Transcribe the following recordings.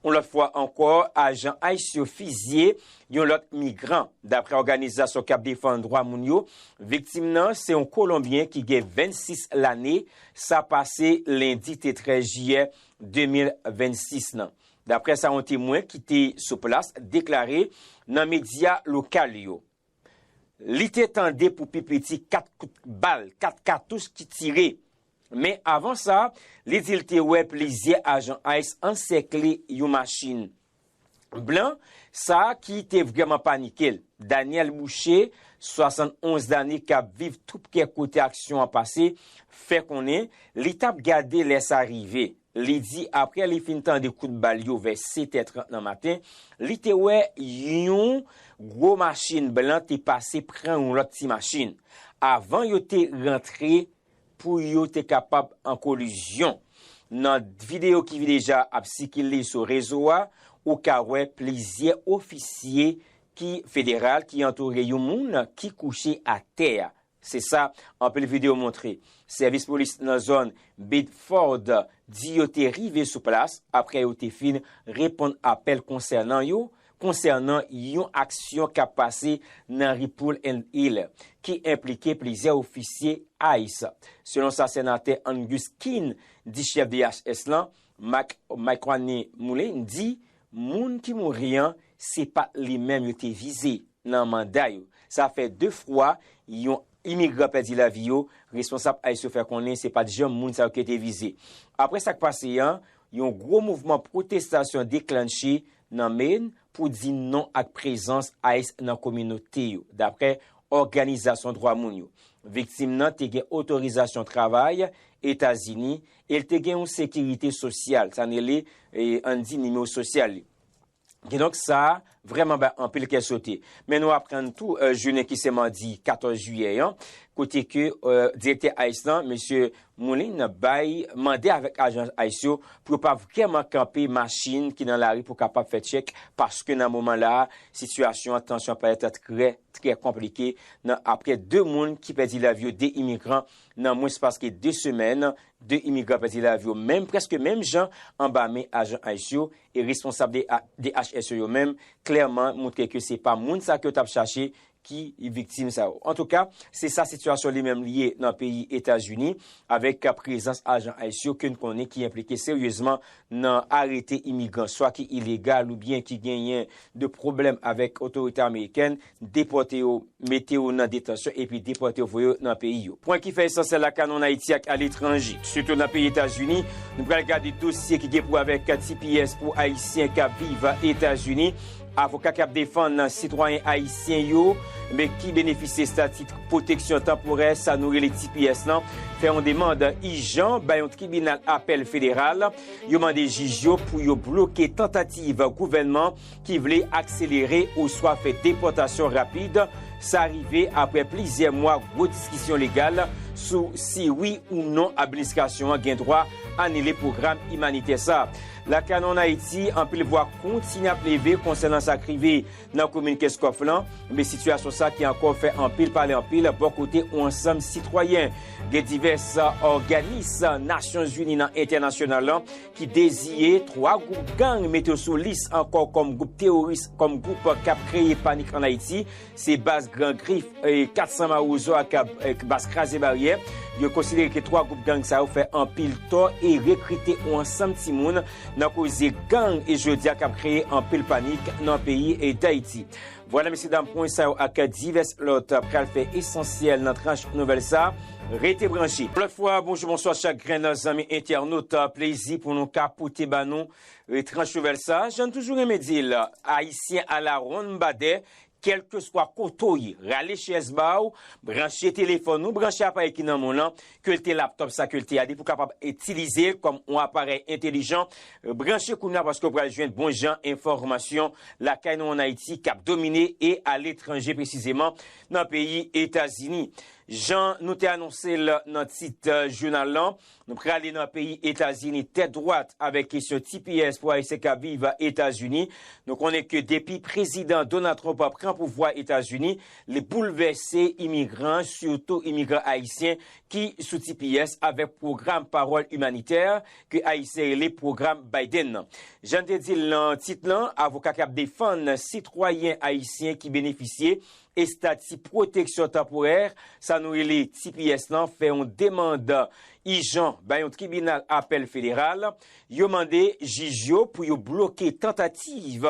Yon lòt fwa ankò, ajan ice yo fizye yon lòt migran. Daprè òganizasyon k ap defann dwa moun yo, viktim nan se yon kolonbyen ki gen 26 lane, sa pase lendi te 13 jiyè 2026 nan. Daprè sa yon temwen ki te sou plas deklare nan medya lokal yo. Li te tande pou pi piti 4 kout bal, 4 katouch ki tire. Men avan sa, li di l te wè plizyè ajan ice ansèkle yon machin blan, sa ki te vrèman panike l. Daniel Boucher, 71 lane k ap viv toupre kote aksyon an pase, fè konnen li t ap gade lè sa rive. Li di apre li fin tande kout bal yo vè 7 tè 30 nan maten, li te wè yon gwo machin blan te pase pran yon lòt ti machin, avan yo te rantre pou yo te kapab an kolizyon. Nan videyo ki deja ap sikile sou rezo a, ou ka wè plizyè ofisye ki federal ki antoure yon moun ki kouche atè a. Se sa anpil videyo montre. Sèvis polis nan zòn Biddeford di yo te rive sou plas apre yo te fin reponn apèl konsènan yo konsènan yon aksyon k ap pase nan ri Pool and Hill ki enplike plizyè ofisye ice. Selon sa Senatè Angus King di chèf DHS lan, Mike Micwannie Mullane di moun ki mouri an se pa t li menm yo te vize. Nan manda yo, sa fè 2 fwa yon imigran pèdi lavi yo, responsab ice yo fè konnen se pat janm moun sa yo ki te vize. Apre sak pase an, yon gwo mouvman pwotestasyon deklannche nan Maine pou di non ak prezans ice nan kominote yo, daprè òganizasyon dwa moun yo. Viktim nan te gen otorizasyon travay Etazini e l te gen yon sekirite sosyal, sa n rele, ann di, nimewo sosyal li. Kidonk sa vrèman bay anpil kè sote. Men nou aprann tou jounen ki se madi 14 jiyè an, kote ke direktè ice lan, mesye Moulin bay mande avèk ajan ice yo pou yo pa vrèman kanpe machin ki nan lari pou kapab fè tchèk paske nan moman la a sitiyasyon an, tansyon an parèt trè, trè konplike nan aprè 2 moun ki pèdi lavi yo, 2 imigran nan mwens paske 2 semèn, 2 imigran pèdi lavi yo menm, prèske menm jan anba men ajan ice yo. E responsab DHS yo yo menm klèman moutre ke se pa moun sa ke yo tap chache ki viktim sa yo. Antouka, se sa sitiyasyon li menm li ye nan peyi Etazini avèk prezans ajan ice yo ke n konnen ki enplike seryezman nan arete imigran swa ki ilegal oubyen ki genyen de pwoblèm avèk otorite amerikèn. depòte yo, mete yo nan detansyon epi depòte yo voye yo nan peyi yo. Pwen ki fè esansyèl la kanonn Ayiti ak aletranje, sitou nan peyi Etazini, nou pral gade dosye ki gen pou wè avèk tps pou Ayisyen k ap viv Etazini, avoka k ap defann sitwayen Ayisyen yo men ki benefisye estati pwoteksyon tanporè sa nou rele tps lan fè yon demand ijan bay yon tribinal apèl federal, yo mande jij yo pou yo bloke tantativ gouvènman ki vle akselere oswa fè depòtasyon rapid, sa rive apre plizyè mwa gwo diskisyon legal sou si wi ou non administrasyon an gen dwa anile pwogram imanitè sa. Lakay nou an Ayiti, anpil vwa kontinye ap leve konsènan sa k rive nan komin Kenscoff lan, men sitiyasyon sa ki ankò fè anpil pale anpil bò kote yon ansanm sitwayen. Gen divès òganis Nasyonzini nan entènasyonal lan ki deziye 3 gwoup gang mete yo sou lis ankò kòm gwoup teworis, kòm gwoup k ap kreye panik ann Ayiti, se baz Gran Grif, 400 Mawozo ak baz Kraze Baryè. Yo konsidere ke 3 gwoup gang sa yo fè anpil tò e rekrite yon ansanm timoun nan koze gang e jodi a k ap kreye anpil panik nan peyi Dayiti. Vwala mesye dam pwen sa yo ak divès lòt pral fè esansyèl nan tranch nouvèl sa, rete branche. Lòt fwa bonjou bonswa chak grenn zanmi entènot plezi pou nou ka pote ba nou tranch nouvèl sa jan n toujou renmen di l ayisyen ala wonn badè kèlkeswa kote w ye rale chèz ba w branche telefòn ou branche aparèy ki nan men w lan Kelte laptop sa kelte a depi ou kapab itilize kòm on aparèy entelijan branche kounya paske ou pral jwenn bon jan enfòmasyon lakay nou an Ayiti kap domine e aletranje presizeman nan peyi Etazini. Jan nou te anonse l nan tit jounal lan, nou prale nan peyi Etazini tèt dwat avèk kesyon tps pou Ayisyen kap viv Etazini. Nou konnen ke depi prezidan Donald Trump pran pouvwa Etazini, Li boulvèse imigran, sitou imigran ayisyen ki sou tps avèk pwogram pawòl imanitè ke ayisyen rele pwogram Biden nan. Jan n te di l nan tit lan, avoka k ap defann sitwayen ayisyen ki benefisye estati pwoteksyon tanporè, sa nou rele tps lan, fè yon demand ijan bay yon tribinal apèl federal. Yo mande jij yo pou yo bloke tantativ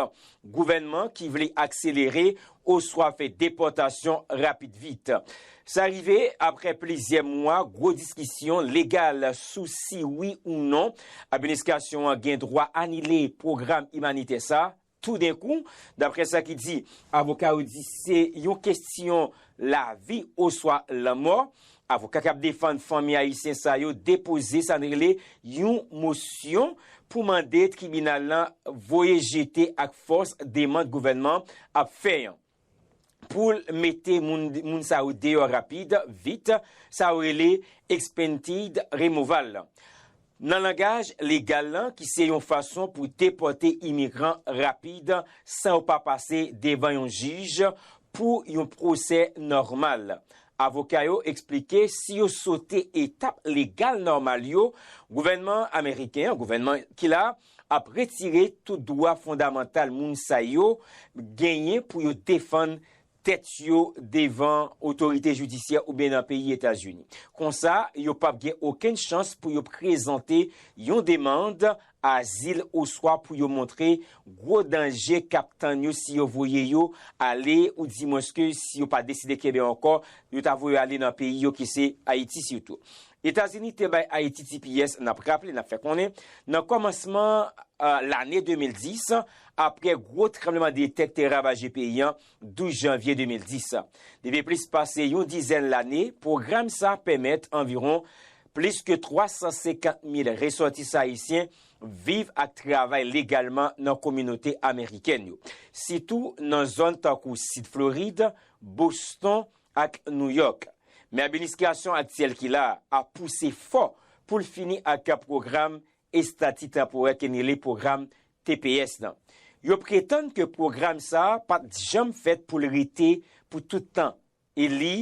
Gouvènman ki vle akselere oswa fè depòtasyon rapid vit. Sa rive apre plizyè mwa gwo diskisyon legal sou si wi ou non Administrasyon an gen dwa anile pwogram imanitè sa toudenkou, dapre sa ki di. Avoka yo di se yon kesyon lavi oswa lanmò. Avoka kap defann fanmi ayisyen sa yo depoze sa n rele yon mosyon pou mande tribinal lan voye jete ak fòs demand gouvènman ap fè an pou l mete moun sa yo deyò rapid vit, sa yo rele expedited removal lan. Nan langaj legal lan ki se yon fason pou depòte imigran rapid san yo pa pase devan yon jij pou yon pwosè nòmal. Avoka yo eksplike si yo sote etap legal nòmal yo, gouvènman ameriken an, gouvènman ki la, ap retire tout dwa fondamantal moun sa yo genyen pou yo defann tèt yo devan otorite jidisyè oubyen nan peyi Etazini. Konsa, yo pap gen okenn chans pou yo prezante yon demand azil oswa pou yo montre gwo danje k ap tann yo si yo voye yo ale ou dimwenske si yo pa deside kenbe ankò, yo ta voye yo ale nan peyi yo ki se Ayiti sitou. Etazini te bay Ayiti tps, n ap raple, n ap fè konnen, nan kòmansman lane 2010, aprè gwo tranbleman de tè k te ravaje peyi an 12 janvye 2010. Depi plis pase yon dizèn lane, pwogram sa pèmèt anviwon plis ke 350 mil resòtisan ayisyen viv ak travay legalman nan kominote amerikèn yo, sitou nan zòn tankou Sid Florid, Boston ak Nouyòk. Men administrasyon aktyèl ki la a pouse fò pou l fini ak pwogram estati tanporè ke n rele pwogram tps lan. Yo pretann ke pwogram sa a pa t janm fèt pou l rete pou tout tan e li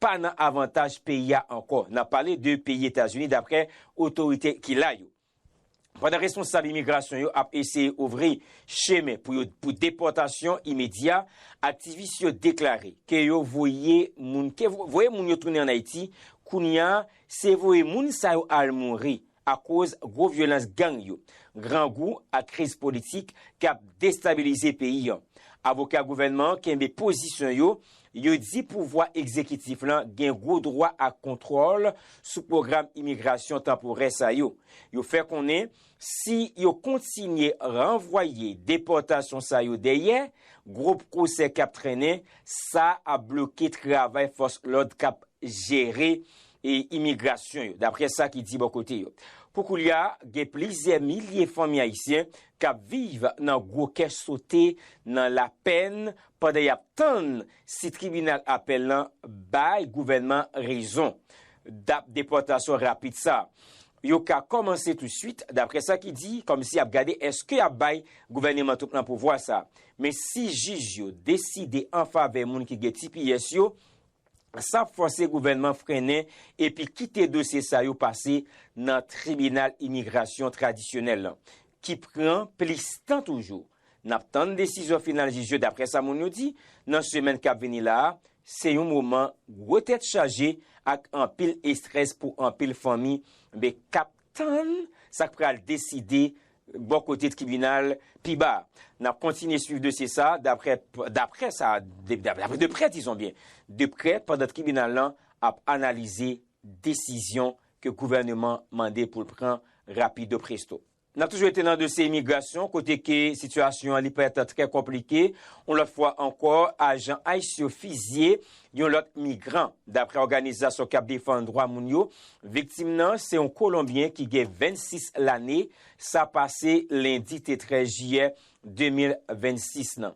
pa nan avantaj peyi a ankò, n ap pale de peyi Etazini daprè otorite ki la yo. Pandan responsab imigrasyon yo ap eseye ouvri chemen pou yo pou depòtasyon imedya, aktivis yo deklare ke yo voye moun ke voye moun yo tounen an Ayiti, kounye a se voye moun sa yo al mouri akoz gwo vyolans gang yo, grangou ak kriz politik k ap destabilize peyi an. Avoka gouvènman an kenbe pozisyon yo, yo di pouvwa egzekitif lan gen gwo dwa ak kontwòl sou pwogram imigrasyon tanporè sa yo. Yo fè konnen si yo kontinye ranvwaye depòtasyon sa yo dèyè, gwo pwosè k ap trennen, sa ap bloke travay fòs lòd k ap jere e imigrasyon yo, daprè sa ki di bò kote yo. Pou koulya, gen plizyè milye fanmi ayisyen k ap viv nan gwo kè sote, nan lapèn, pandan y ap tann si tribinal apèl lan bay gouvènman rezon. Dat depòtasyon rapid sa yo ka kòmanse tousuit, daprè sa ki di, kòmsi y ap gade èske y ap bay gouvèneman Trump lan pouvwa sa. Men si jij yo deside anfavè moun ki gen tps yo, san fòse gouvènman frennen epi kite dosye sa yo pase nan tribinal imigrasyon tradisyonèl lan, ki pran plis tan toujou. N ap tann desizyon final jij yo daprè sa moun yo di, nan semèn k ap vini la a, se yon moman gwo tèt chaje ak anpil estrès pou anpil fanmi be k ap tann sa k pral deside Bò kote tribinal pi ba a, n ap kontinye swiv dosye sa a daprè daprè sa a daprè de prè dizon byen de prè pandan tribinal lan ap analize desizyon ke gouvèneman mande pou l pran rapido presto. N ap toujou rete nan dosye imigrasyon kote ke sitiyasyon an li prèt trè konplike yon lòt fwa ankò ajan ice yo fizye Yon lòt migran, daprè òganizasyon k ap defann dwa moun yo, viktim nan se yon kolonbyen ki gen 26 lane, sa pase lendi te 13 jiyè 2026 nan.